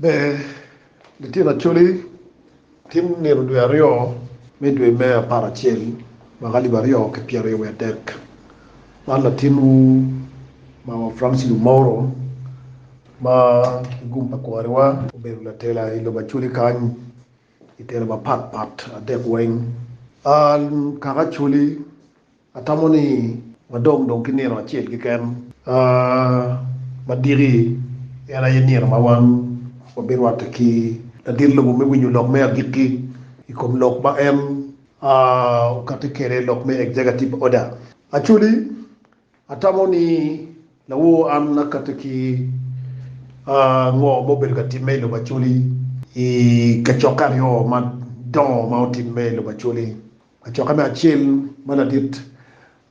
Ber litino Acholi tim nino dwe aryo me dwe me apar acel mwaka alip aryo ki pyeraryo wiye adek. Man latinwu Mama Francis Lumoro ma ki gum pa kwariwa obedo latela i lobo Acholi kany i telo mapat pat adek weng. An kaka Acholi Atamo ni wadong dong ki nino acel keken ma diki, en aye nino ma wan wabirwatte ki ladit lobo me winyo lok me agikki i kom lok ma en okatte kwede, lok me executive order. Actually, atamo ni lawor an akatte ki ngo ma obedo ka timme i lobo Acholi i kacokke aryo madongo ma otimme i lobo Acholi. Acokke me acel ma ladit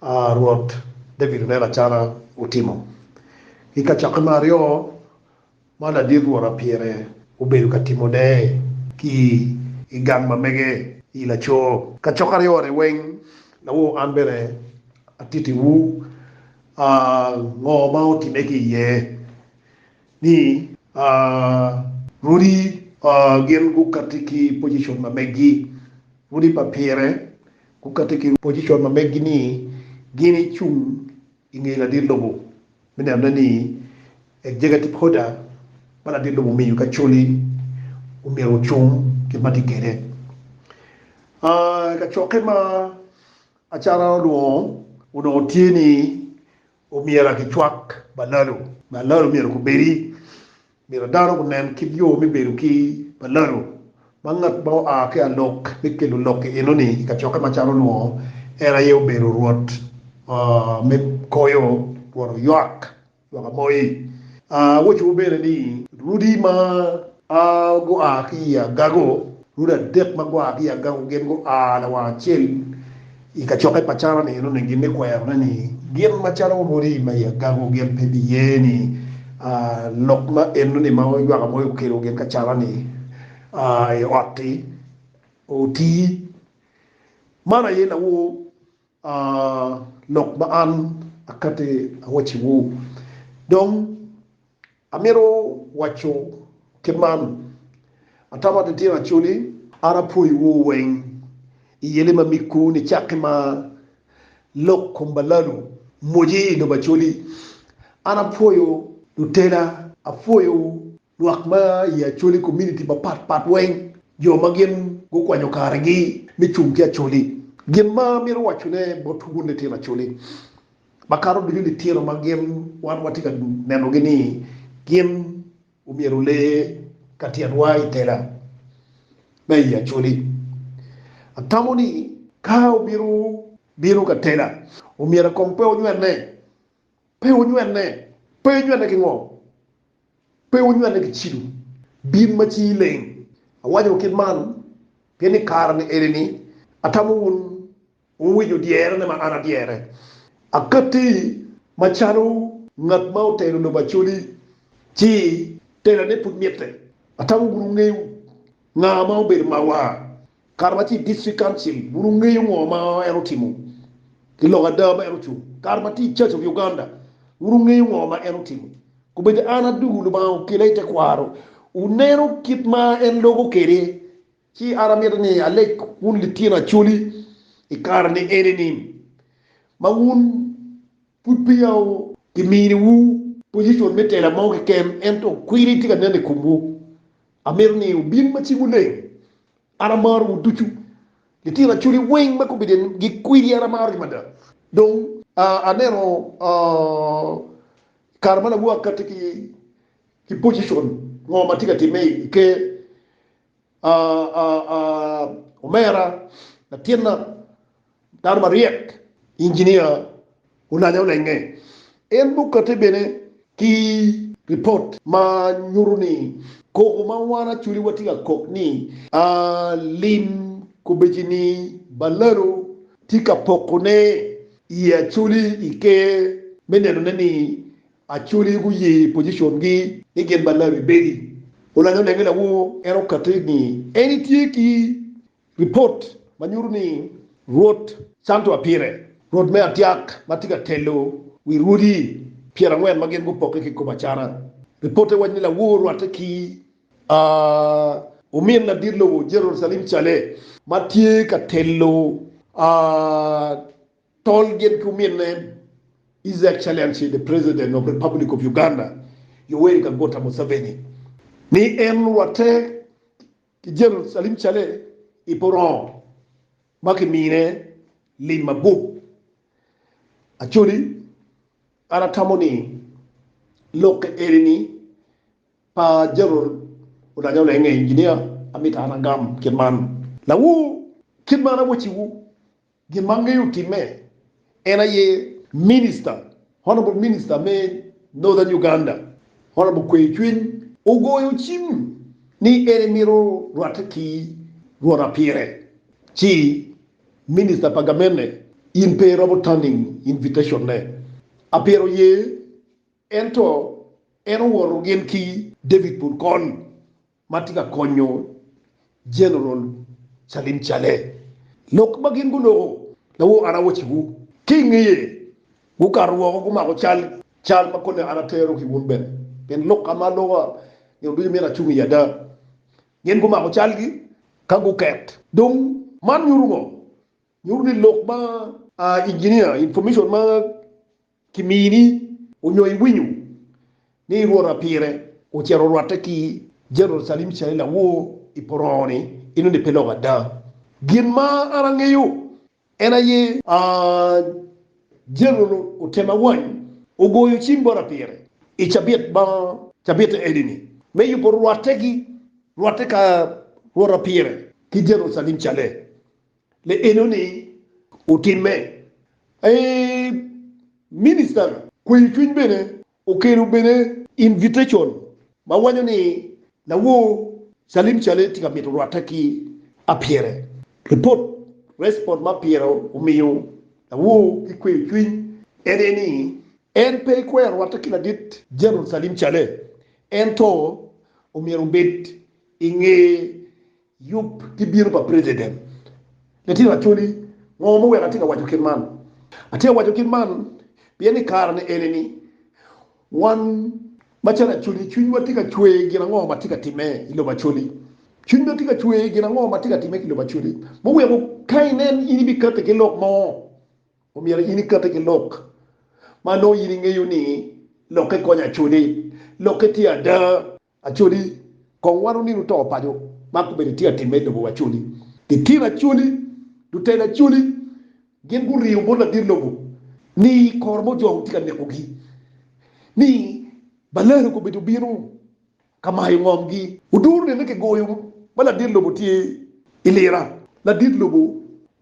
Rwot David oneno acana otimo, ki kacokke me aryo ma ladit Rwot Apyere obedo ka timone ki i gang ma mege i laco kacokke aryo-ni weng, lawo an bene atittiwu ngo ma otimme ki iye. ni rwodi gin gukatti ki pocicon ma meggi. Rwodi pa pire gukatti ki pocicon ma meggi ni gin icung i nge ladit lobo me nenone ni executive order ma ladit lobo omiyo ki Acholi omyero ocung kit ma tye kwede. I kacokke ma acara olwongo onongo tye ni Omyera ki cwak balalo. Balalo myero gubedi. Myero dano gunen kit yo me bedo ki balalo ma ngat ma oa ki alok me kelo lok i enoni i kacokke macalo onongo en aye obedo rwot me koyo rwot oywak ywak amoyi. Awocowu bene ni rudi ma. A Gua ki i agago, Rude adek ma gua ki i agago gin gua lawang acel i kacokke pa Carani enoni gin me kwerone ni gin macalo odi ma i agago gin pe biye ni a lok ma enoni ma oywaka moyo okelo gin ka Carani a i ot-ti oti. Man aye lawo. A Lok ma an akati awacciwu, dong amito waco kit man, Atamo ni tyen acoli an apwoyowu weng i yeli ma miggu nicakki ma lok kom balanu moji i lobo acoli. An apwoyo lutela, apwoyowu Lwak ma i Acholi Komuniti mapat pat weng, jo ma gin gukwanyo karegi me cung ki Acholi, gin ma amito wacone bot wun litino Acholi makato ducu litino ma gin wan watye ka nenogi ni gin omyero ole ka tyenwa i tela ma i Acholi, atamo ni ka wubito bino ka tela, omyero kong pe wunywene, pe wunywene, pe wunywene ki ngo. Pe wunywelle ki cido, bin ma cingi leng. Awaco kit man pien i kare-ni eni-ni atamo wun wuwinyo dyerane ma an adyere. Akatti macalo ngat ma otero lobo acoli ci terane pud mitte, atamo bene wungeyo nga ma obedo marwa. Kato ma tye i District Council, wun wungeyo ngo ma en otimo i lok ada ma en ocung? Kato ma tye i Church of Uganda, wun wungeyo ngo ma en otimo? Kobedo an adugu Lubanga okela i tekwaro, wuneno kit ma en logo kwede. Ci an amito ni aleg wun litino Acholi i kare ni eni ni, ma wun Pud peya kiminiwu pojicon me tela mo keken, ento kwiri tye ka nen i komwu. Amito ni wubin ma cingwu leng. An amarowu ducu. Litino acholi weng ma kobedi gikwidi an amarogi mada. Dong aneno kare ma lawaka tye ki pojicon mo ma tye ka timme i Ker, Omera, latinna, dano maryek, injinia olanya olenge. En mukate bene ki ripot ma nyuto ni koko ma wan Acholi watye ka kok ni lim kobecini Balalo tye ka pokone i Acholi i Ker me nenone ni Acholi guye pocicongi ni gin ma Larry Bailey, olanyo lenge lawor, en okatte ni en etye ki ripot ma nyuto ni Rwot canto apire, Rwot me atyak ma tye ka telo wi rwodi pyerangwen ma gin gupokke ki kom acata. Ripotte waco ni lawor rwatte ki omin ladit lobo Jerucalem Cale ma tye ka telo. Tol gin ki ominne en, His Excellency the President of Republic of Uganda Yoweri Kaguta Museveni, ni en orwatte ki General Salim Saleh i Porongo ma kimine lim mabup. Acholi, an atamo ni lokke eni ni pa General Oulanya Olenge Engineer, amito an agam kit man. Lawu, kit ma an awecciwu, Gin ma angeyo otimme en aye Minister, Honourable Minister me Northern Uganda, Honourable Kweyo Cwiny ogoyo cim ni en emito rwatte ki lwona pire ci Minister pa Gamene in pe iromo turning invitation ne. Apyero ye ento en owoto gin ki David Purkony ma tye ka konyo Jeneral Salim Caleh. Lok ma gin guloko lawor Arawaci-gu ki i ngeye, gukato woko gumako cal cal ma kone an atero ki wun bene, pien lok ka ma aloka nino ducu myero acung iye ada. Gin gumako calgi ka guket. Dong, man nyuto ngo? Nyuto ni lok ma, ah, inginia, information ma Kimini onyo iwinyo ni rwota pire ocito orwatte ki Jerucalem calo lawor i porono ni, Enoni pe lok ada. Gin ma an angeyo en aye a Jerucalem otema wany ogoyo cim bota pire i cabit ma cabitte enini me yubo rwatte ki rwatte ka rwota pire ki Jerucalem cale Le enoni otimme. Eeh minister kweyo cwiny bene okelo bene invitation ma wanyo ni lawor Salim Saleh tye ka mito rwatte ki apyere. Report respond ma apyere omiyo lawor ki kweyo cwiny en aye ni en pe ikwero rwatte ki ladit General Salim Saleh ento omyero obed inge Yub ki bino pa president. Litino Acholi, ngo muweko atye ka waco kit man? Atye ka waco kit man pien i kare ni eni ni wan macalo Acholi cwinywa tye ka cwer gin ango matye ka time i lobo Acholi. Cwinywa tye ka cwer gin ango matye ka time ki lobo Acholi muweko ka inen in ibikati ki lok mo omyero in ikati ki lok ma nongo in ingeyo ni lokke konyo Acholi, lokke tye ada. Acholi, Kong wano nino to paco ma gubedo itye ka timme i lobo Acholi. Litino Acholi, Lutela Acholi gin guriyo bot ladit lobo ni kor mo jo gitye ka nekogi, ni balero gubido bino ka mayo ngomgi. Oduro nene kigoyo ma ladit lobo tye ilira, ladit lobo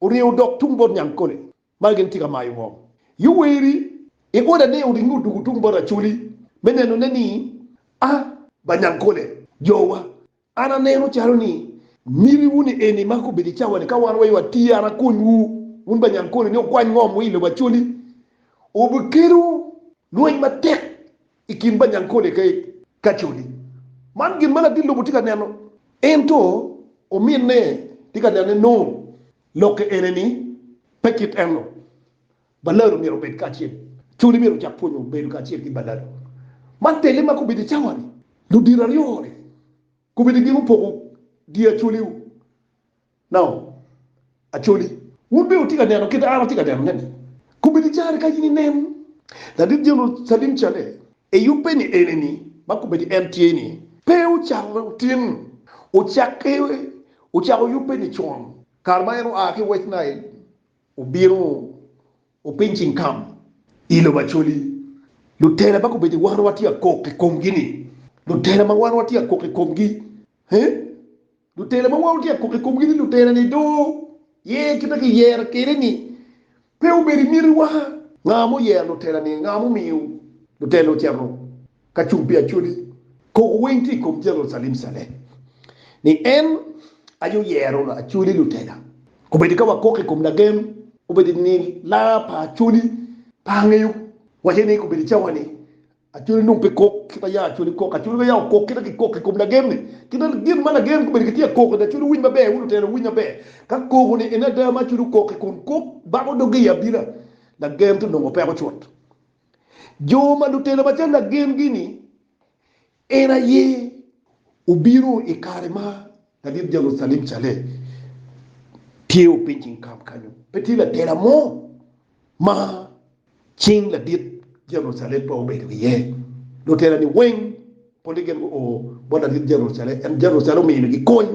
Orye odok tung bot Nyankole ma gin tye ka mayo ngom. Yoweri i ode ne oringo odwogo tung bot Acholi me nenone ni a ba Nyankole. Jowa, an aneno calo ni miti wu ni eni ma kobedo i cawa ni ka wan wa i ot tye an akony wu wun ba Nyankole ni wukwany ngom wu i lobo Acholi. Obikelu lweny matek i kin banyankole ki kacoli. Man gin ma ladit lobo tye ka neno. Ento ominne tye ka nene nongo lokke ene ni pe kit eno. Balado myero obed kacel. Coli myero ocak pwonyo bedo kacel ki Balado. Man tele ma kobedo i cawa-ni. Ludito aryo-ni kobedo gin opoko dye acoli-wu. Nao, Acholi, wun bene wutye ka neno kit ma an atye ka nenone-ni? Kobedi caro ka in inen ladit Jerucalem calle eyubbe ni enini, ma kobedi en tye-ni, pe wucalle otin, wucakke wucako yubbe nicon, kare ma en oa ki wec Nail obino opiny cingkam i lobo Acholi. Lutela ma kobedi wan watye ka kok i komgi-ni, lutela ma wan watye ka kok i komgi, he, Lutela ma woro tyeko i komgi ni lutelani dong ye kite kiyere kwede-ni pe obedo i mitiwa. Nga ma oyero lutelani? Nga ma omiyo lutela ocito ka cung pi acodi? Koko weng tye i kom Jeneral Salim Saleh ni en aye oyero acoli lutela. Kombeddi ka wakok i kom lagen, kombeddi ni laa pa acoli pe angeyo wace ni kombeddi cawa-ni Acholi nongo pe kok kit ma yam acholi kok. Acholi pe yam okok kit ma kikok i kom lagen-ni. Kit ma gin ma lagen gubedo gitye ka koko-ni, acholi winy maber, wun lutela wuwiny maber. Ka koko-ni en ada ma acholi okok-ki, kun kok bako doge i abina, lagen to nongo peko cut. Jo ma lutela macalo lagen-gi-ni, en aye obino i kare ma lalit Jerucalem calle tye opiny cing kam kanyo. Pe tye latela mo ma cing ladit Jerucalem pe obedo iye. Lutera-ni weng polle gin guo bot ladit Jerucalem, ento Jerucalem omiyogi kony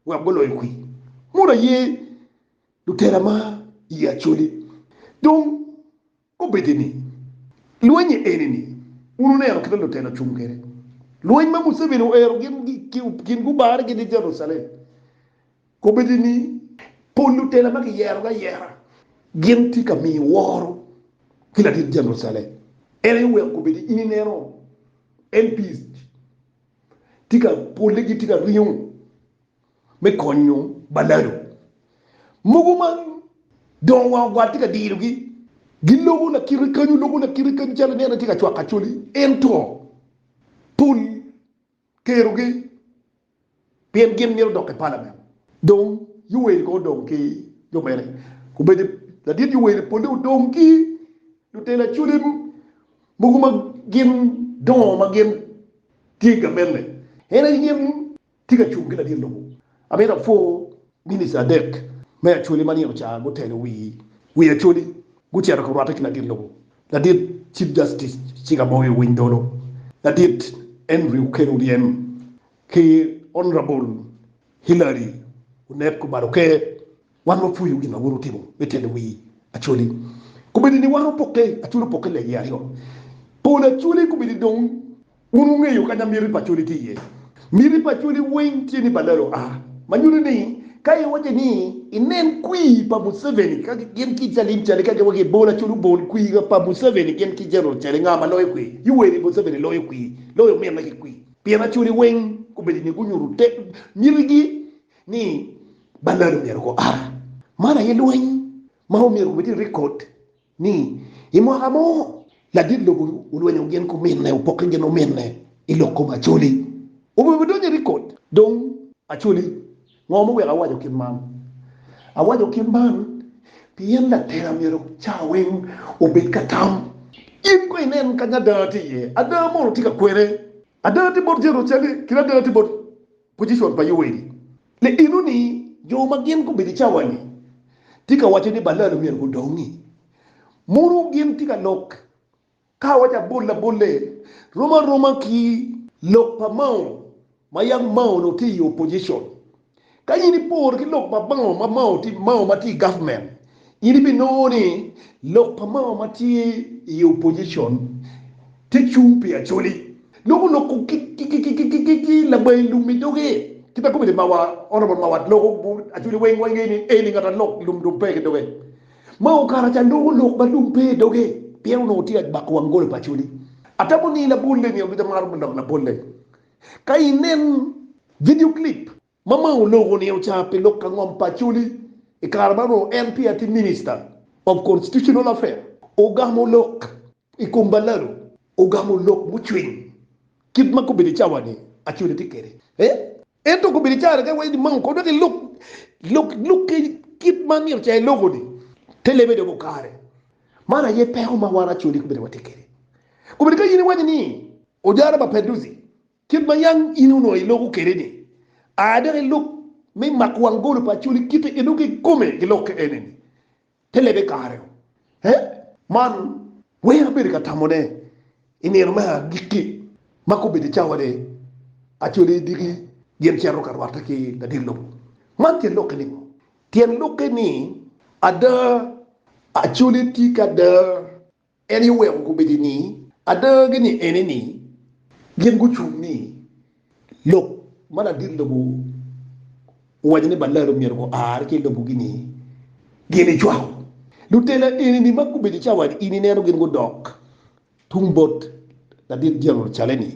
wek guloyo kwi mono aye lutera ma iye acoli. Dong obedi ni lwenye eni-ni, wun wuneno kit ma lutera ocung kwede, lweny ma Museveni oero gin gubare gin i Jerucalem. Kombeddi ni pol lutela ma kiyerogi ayera gin tye ka miyi woro ki latit Jerucalem. En aye oweko kombeddi in ineno MPs tye ka polle gitye ka ringo me konyo balado mogo ma dongo wang ogwal tye ka dirogi. Giloko lakite kanyu, loko lakite kanyu calo ineno tye ka cwako acholi ento pol. kerogi pien gin mito dok i palament. Dong Yoweri kong odong ki jo mene? Obedo ladit Yoweri pole odong ki lutela colim mogo ma gin dongo ma gin tye i gavenne. En aye gin tye ka cung ki ladit lobo. Amito apwoo Minister adek me Acholi ma nino ca guteno wi wi Acholi guceto ka rwate ki ladit lobo. Ladit Chief Justice Chiga Boyo Winy Dolo, Ladit Henry Okel Oryem ki Honourable Hillary Onet Kubalo Ke, wan wapwoyo gin ma un wutimo me telo wi Acholi. Kubedi ni wan opokke, Acholi opokke legi aryo, Pol Acholi kubedi dong. Wun wungeyo kanya miti pa cwali tye iye. Miti pa cwali weng tye ni balalo a, ma nyuto ni ka iwaco ni inen kwir pa Museveni ka gin ki Calim Cele ka giwaco ni bol acol obol kwir pa Museveni gin ki General Cele nga ma loyo kwir? Iwer ni Museveni loyo kwir, loyo ominne ki kwir. Pien acwali weng gubedo ni gunyuto te mitigi ni balalo myero gu a. Man aye lweny ma omyero gubed ni record. ni i mwaka mo ladit lobo olwenyo gin kuminne, opokke gin ominne i lok kom Acholi. Omyero bidonyo i rikod. Dong, Acholi, ngo muweko awaco kit man? Awaco kit man pien latela myero cawa weng obed ka tam. In kono inen kanya ada tye iye. Ada mono tye ka kwene. Ada tye bot Jerucalem, kit ada tye bot Pojicon pa Yoeli, Liino ni jo ma gin gubedo i cawa-ni tye ka waco ni balal omyero gudongi. Mono gin tye ka lok ka awaco abol abole rom aroma ki lok pa Mao ma yam Mao onongo tye i opojicon? Ka in iporo ki lok pa Mao ma Mao ma tye i gavmen, In ibinongo ni lok pa mama ma tye i opojicon te cung pi Acholi dok oloko ki labayi lum i doge. Kit ma kome-ni mawa, Honourable Mawat loko Acholi weng wa ngeyo ni en aye ngat alok lum dong pe ki doge. Ma okato ca nongo lok ma lum pe i doge pien onongo tye ka bako wang golo pa Acholi. Atamo ni labolle ni, Aluc amaro me lok labolle. Ka inen video clip. Mama oloko ni ocar pi lok ka ngom pa Acholi i kare ma onongo en peya tye Minista of Constitutional Affair. Ogamo lok i kom balado, ogamo lok mucwiny kit ma gubedo i cawa ni Acholi tye kwede. Ento gubedo i caa rega wai ni mama okob dok elok lok lukke kit ma myero ca eloko ni te lebe dok okare. Man aye peko ma wan Acholi gubedo watye kwede. Gubedo ka in iwaco ni Ojara Mapenduzi Kit ma yam in onongo iloko kwede-ni, a dok ilub me mako wang golo pa Acholi kite ki dok ikome ki lok ki ene-ni, te lebe kare-u. He, man weng abedo ka tamone i nino me agikki, ma kobeddi i cawa ni, Acholi diki gin cito ka rwatte ki ladit lobo. Man tyen lokke ningo? Tyen lokke ni, ada, Acholi tye ki ada En aye oweko gubedo ni adagi ni eni ni gin gucung ni lok ma ladit lobo owaco ni balalo myero guar ki i lobogi ni gin icwako. Lutela eni ni ma gubedo ca wad ini neno gin gudok tung bot ladit dyang ocale ni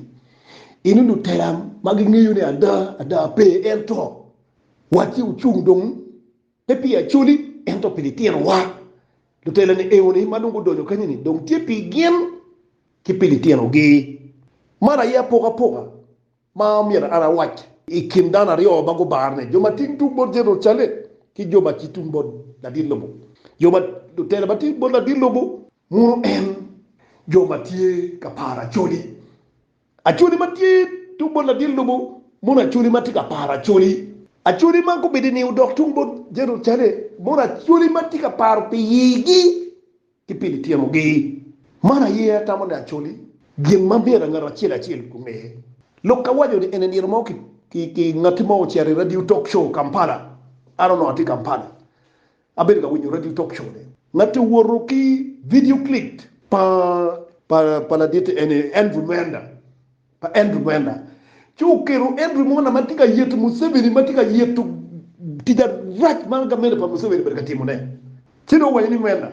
eni lutela ma gingeyo ni ada ada pe ento watgi ocung dong. Pe pi Acoli, ento pi litinowa. Lutelani eoni ma dong gudonyo kanyeni dong tye pi gin ki pi litinogi. Man aye apokapoka ma myero an awac i kin dano aryo ma gubarre-ni, jo ma tye tung bot Jerucalem ki jo ma tye tung bot ladit lobo. Jo ma, lutela ma tye bot ladit lobo, muno en jo ma tye ka paro Acoli Acholi ma tye tung bot ladit lobo mono acholi ma tye ka paro acholi. Acholi man gubedo i niye odok tung bot Jerucalem mono acholi ma tye ka paro pi igi ki pi lityemogi. Man aye atamo ni acholi gin ma myero ngat acel acel onge. Lok ka waco ni en i nino mo ki ngati mo ocito i radio talk show Kampala, an onongo atye Kampala, Abedo ka winyo radio talk show ne ngati owoto ki video clip pa pa pa laditi eni Andrew Mender pa Andrew Mender ci oketo Andrew Monder ma tye ka yeto Museveni ma tye ka yeto tic arac ma gamente pa Museveni obedo ka timo ne ci dong owaco ni Mender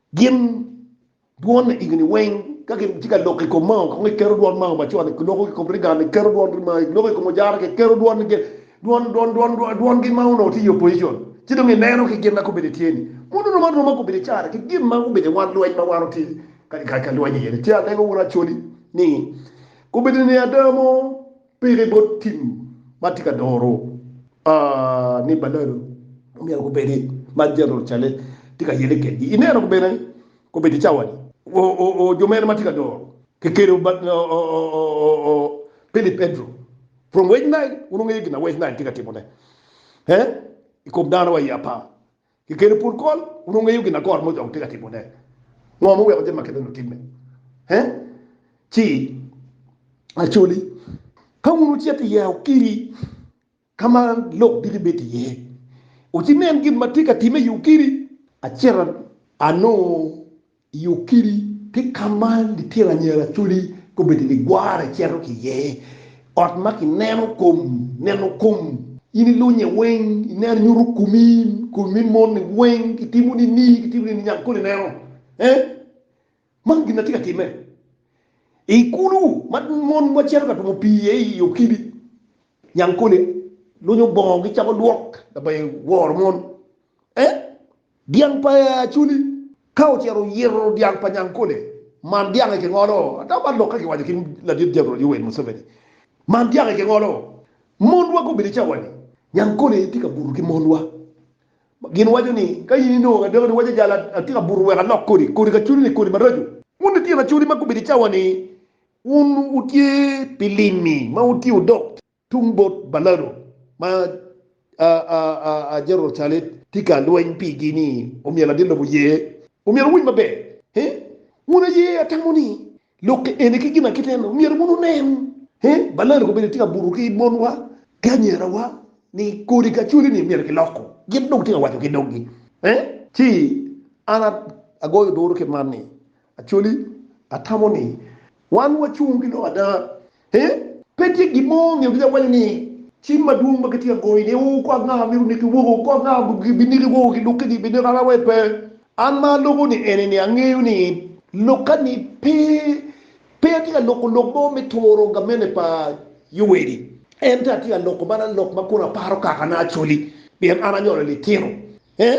Gin dwon i igini weng ka gitye ka loko i kom mao kong iketo dwon mao macon i loko i kom rigani iketo dwon rimai iloko i kom ojara ki iketo dwon gin dwon dwon dwon dwon dwon gin ma onongo tye i opposition ci dong ineno ki gin ma gubedo i tyeni mono oromo aroma gubedo i cara ki gin ma gubedo i wan lweny ma wan watye ka lweny iye ni ci alego wun Acholi ni gubedo ni ada mo Pire bot tim ma tye ka doro ni balalo omyero gubed ma Jeneral Cale tye ka yele kedgi. Ineno bene kobedi cawani, jo mene ma tye ka doro kekelo Philip Edro from West Nile? Wun wungeyo gin ma West Nile tye ka timone i kom dano wa i apar? Kikelo pud kol, wun wungeyo gin ma kor moc dok tye ka timone. Ngo ma oweko jami ma kene-ni otimme? He, ci Acholi, ka wun wucito i Yaukiri, ka ma lok diki bedo iye, wucinen gin ma tye ka timme i Yaukiri. Acito anongo I yo kidi, tye ka ma litino anyira codi gubedo ligwara cito ki iye, ot ma kineno kom, neno kom, in ilunye weng, ineno nyuto komi, komi me moni weng, kitimo ni ni, kitimo ni ni nyang koni ineno, eh, man gin na tye ka timme. I kulu ma mon ma cito ka twomo pii iye i yo kidi, nyang koni lunyo bongo gicako lwok, labayo woro mon, eh, Dyang pa ee Acholi ka ocito oyito dyang pa Nyankole, man dyange kingolo ata man lok ka kiwaco ki ladit Jeneral Yoweri Museveni, man dyange kingolo monwa gubedo i cawa ni Nyankole tye ka buto ki monwa, gin waco ni ka in inongo adako ni waco jalo atye ka buto wek alok kodi, kodi Acholi ni kodi maraco. Wun litino Acholi ma gubedo i cawa ni wun wutye pi limi ma wutye udok Tung bot balano ma Jerucalet tye ka lweny pigi ni omyelo adit lobo ye, omyero wuwiny maber. He, wun aye atamo ni lokke eni ki ginakite eni omyero wun wunen. He, balano kobedo tye ka buto ki monwa ki anyirawa ni kodi kacoli ni myero giloko. Gin dong tye ka waco ki doggi. He, ci an agoyo duru ki man ni Acholi, Atamo ni wan wacung ki lok ada? Ee, pe tye gin mo nge obija waco ni cim madwong ma gitye ka goyo ni o kor ango amito niki woko, kor ango biniki woko ki lukke ni biniki ana wai pe. An ma aloko ni eni ni angeyo ni lukka ni pe, pe atye ka loko lok mo me turo gamente pa Yoweli, ento atye ka loko mana lok ma kono aparo kakana Acholi, pien an anyolo litino Ee,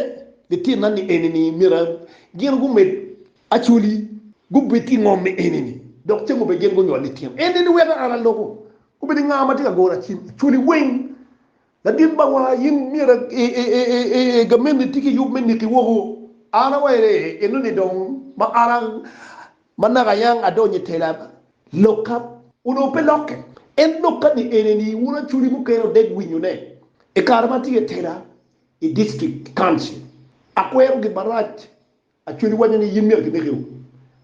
litino ni enini myero gin gumed Acholi gubed ki ngom me enini dok ceng obed gin gunywol litino enini weko an aloko obed nga ma tye ka goro Acholi weng. Ladit bawa in myero ee gamenni tye ki yub me niki woko. An awayo ee enoni dong ma ara ma naka yang adonyo i tela lokka onongo pe lokke. En lokka ni enini wun Acholi mukene odeg winyone i kare ma atye i tela I district, council, akwerogi marac, Acholi wanyo ni yin myero kineki u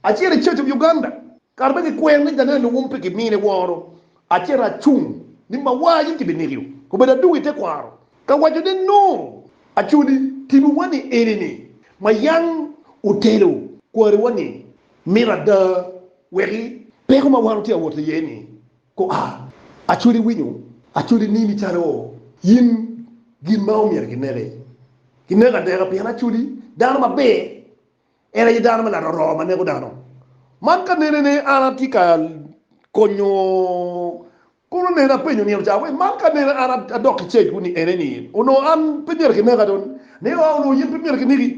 aciro i church of Uganda. Kara bene kikwero ni Janelle Luwum pe kimine woro, aciro acung ni mawar yin kibineki u obedo adungo i tekwaro ka waco ne no, Acholi tibu wa ni eni ni ma yang otelo kwari wa ni mito ada weki peko mawar otye awot iye ni Gua, acwali winyo, acwali nini calo in gin ma omyero gineki. Gineko aneka pien acwali dano maber en aye dano me laroroo ma neko dano. Man ka nenene an atye ka konyo kono nene apenyo nino ca we man ka nene an adok ki cage kuni ene ni onongo an pe myero kineka dong ne wa onongo yen pe myero kineki.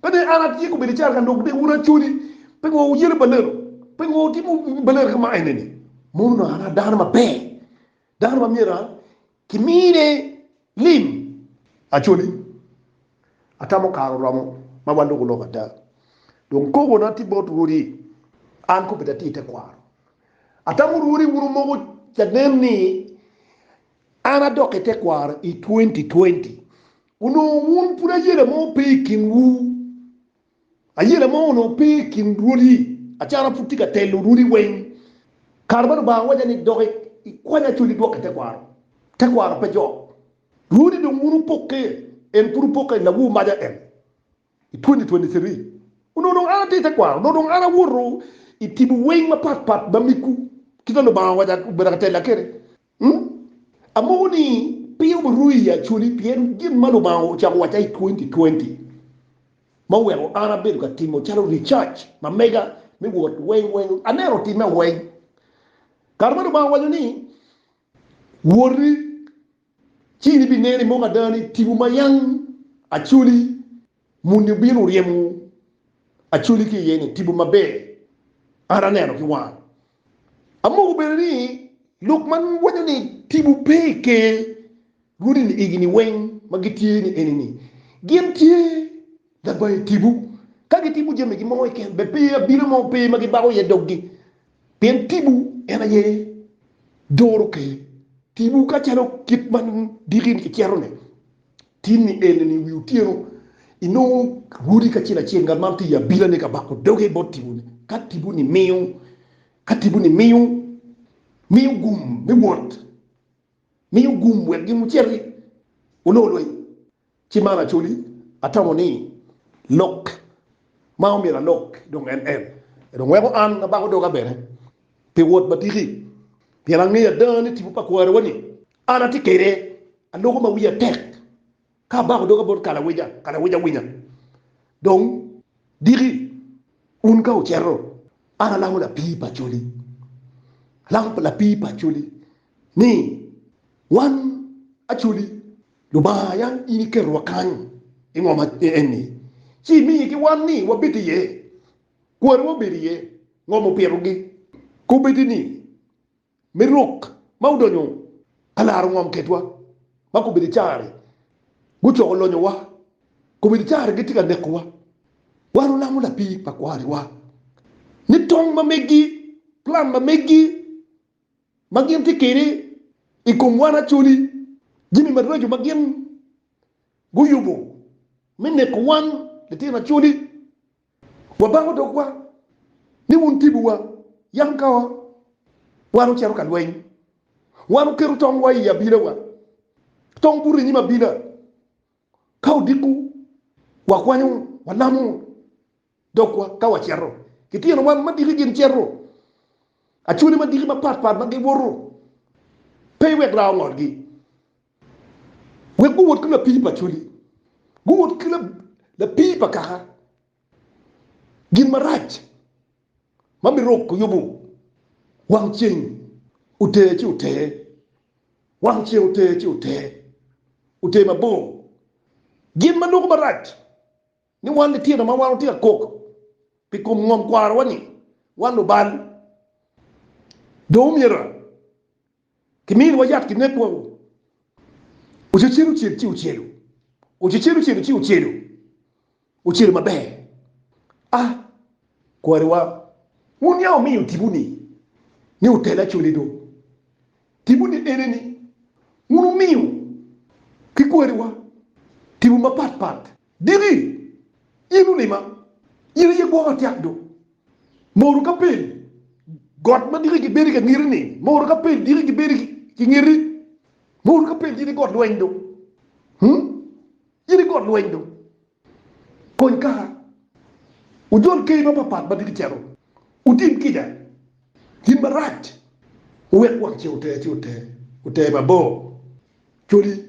Pe ne an atye kobedo careka dok de wun acwali pingo wuyelo baleno pingo wutimo baleno kama eneni. Mom onongo an a dano maber, dano ma myero kimine lim. Actually, atamo kare oromo ma waloko lok ada. Dong kobona tye bot rwodi, an kobeddi atye i tekwaro. Atamo rwodi wun wumoko canen ni an adok i tekwaro i twenty twenty. Onongo wun pud ayela mo pe i kinwu. Ayela mo onongo pe i kin rwodi, acara pud tye ka telo rwodi weng. Kare ma Lubanga owaca ni, Dok ikwany acoli idwok ki tekwaro, tekwaro pe jok. Rwodi dong wun wupokke, en pud wupokke i lawu maca en i 2023. Onongo dong an atye i tekwaro, dok dong an awoto i timo weng mapat pat ma migwu, kit ma Lubanga owaca obedo ka tella kwede. Ung, Amoko ni pe wuruu i Acholi pien gin ma Lubanga ocako wacca i twenty twenty ma oweko an abedo ka timo calo research ma mega me wot weng weng aneno otimme weng. Kare ma Lubanga owaco ni, Woti, ci in ibineno i moko ada ni tipo ma yam Acholi Muni obino ryemo Acholi ki iye ni tipo maber an aneno ki wanga. Amogo bene ni lok ma waco ni tipo pe i Ker Rwodi ni egini weng ma gitye ni eni ni gin tye labayo tipo. Ka gitimo jami gi mo keken bed pe abino mo pe ma gibako iye doggi pien tipo en aye doro Ker. Tipo ka calo kit ma diki ni kicetone Tin ni en ni wi otyeno inongo rwodi kacel acel ngat man tye i abila ne ka bako doge bot tipo ni ka tipo ni miyo ka tipo ni miyo miyo gum me wot miyo gum wek gin wuciti wulor lweny ci man acoli atamo ni lok ma omyero alok dong en en dong weko an abako doga bene pi wot matiki pien angeyo ada ni tipo pa kwariwa ni An atye kede aloko ma wiya tek, ka abako doga bot kalawica, kalawica winya. Dong diki un ka wucito, an alako lapii pa coli, alako lapii pa coli ni, Wan acoli Lubanga, yam in iketowa kany i ngom eni, ci imiye ki wan ni wabed iye, kwariwa obedo iye, ngom opitogi. Kobbe-gi ni, me rok ma odonyo alaro ngom kedwa ma komedi caro-ri gucoko lonyowa, komedi caro-ri gitye ka nekowa. Wan wulamo lapir pa kwariwa ni tong ma megi, plan ma megi ma gin tye kede i kom wan acoli, jami maraco ma gin guyubo me neko wan litino acoli. Wabango dogwa ni wun tibuwa, yam ka wan ocito ka lweny, wan oketo tongwa i abinawa, tong buto i nyim abina, ka odiko, wakwanyo, walamo dogwa ka wacito. Litino wan madiki gin cito, acwali madiki mapatpat ma gibuto, pe wek raa ongolgi. wek guwot ki lapii pa cwali, guwot ki lapii pa kaka, gin marac ma biruko yubo wang ceng oter ci oter, wang ceng oter ci oter, oter mabor, gin ma doko marac Ni wan litino ma wan watye ka kok pi kom ngom kwarowa ni wan lubal, dong omyero kiminiwa yat kinek woko. Ocecel ocel ci ocelo, ocecel ocelo ci ocelo, ocelo maber. A kwariwa, wun ya wumiyo tipo ni ni otel acoli do. Tipo ni ene ni wun wumiyo ki kwariwa tipo mapat pat. Diki, in ulima, in aye gwoko atyek do. Moru ka pil got ma diki gibedi ka ngeti ni, moru ka pil diki gibedi ki ngeti, moru ka pil in i got lweny do, hmm, in i got lweny do. Kony kaka ojol keyi mapapat ma diki cito, otim kica gin marac, owek wang ce ote ci ote, ote mabor coli.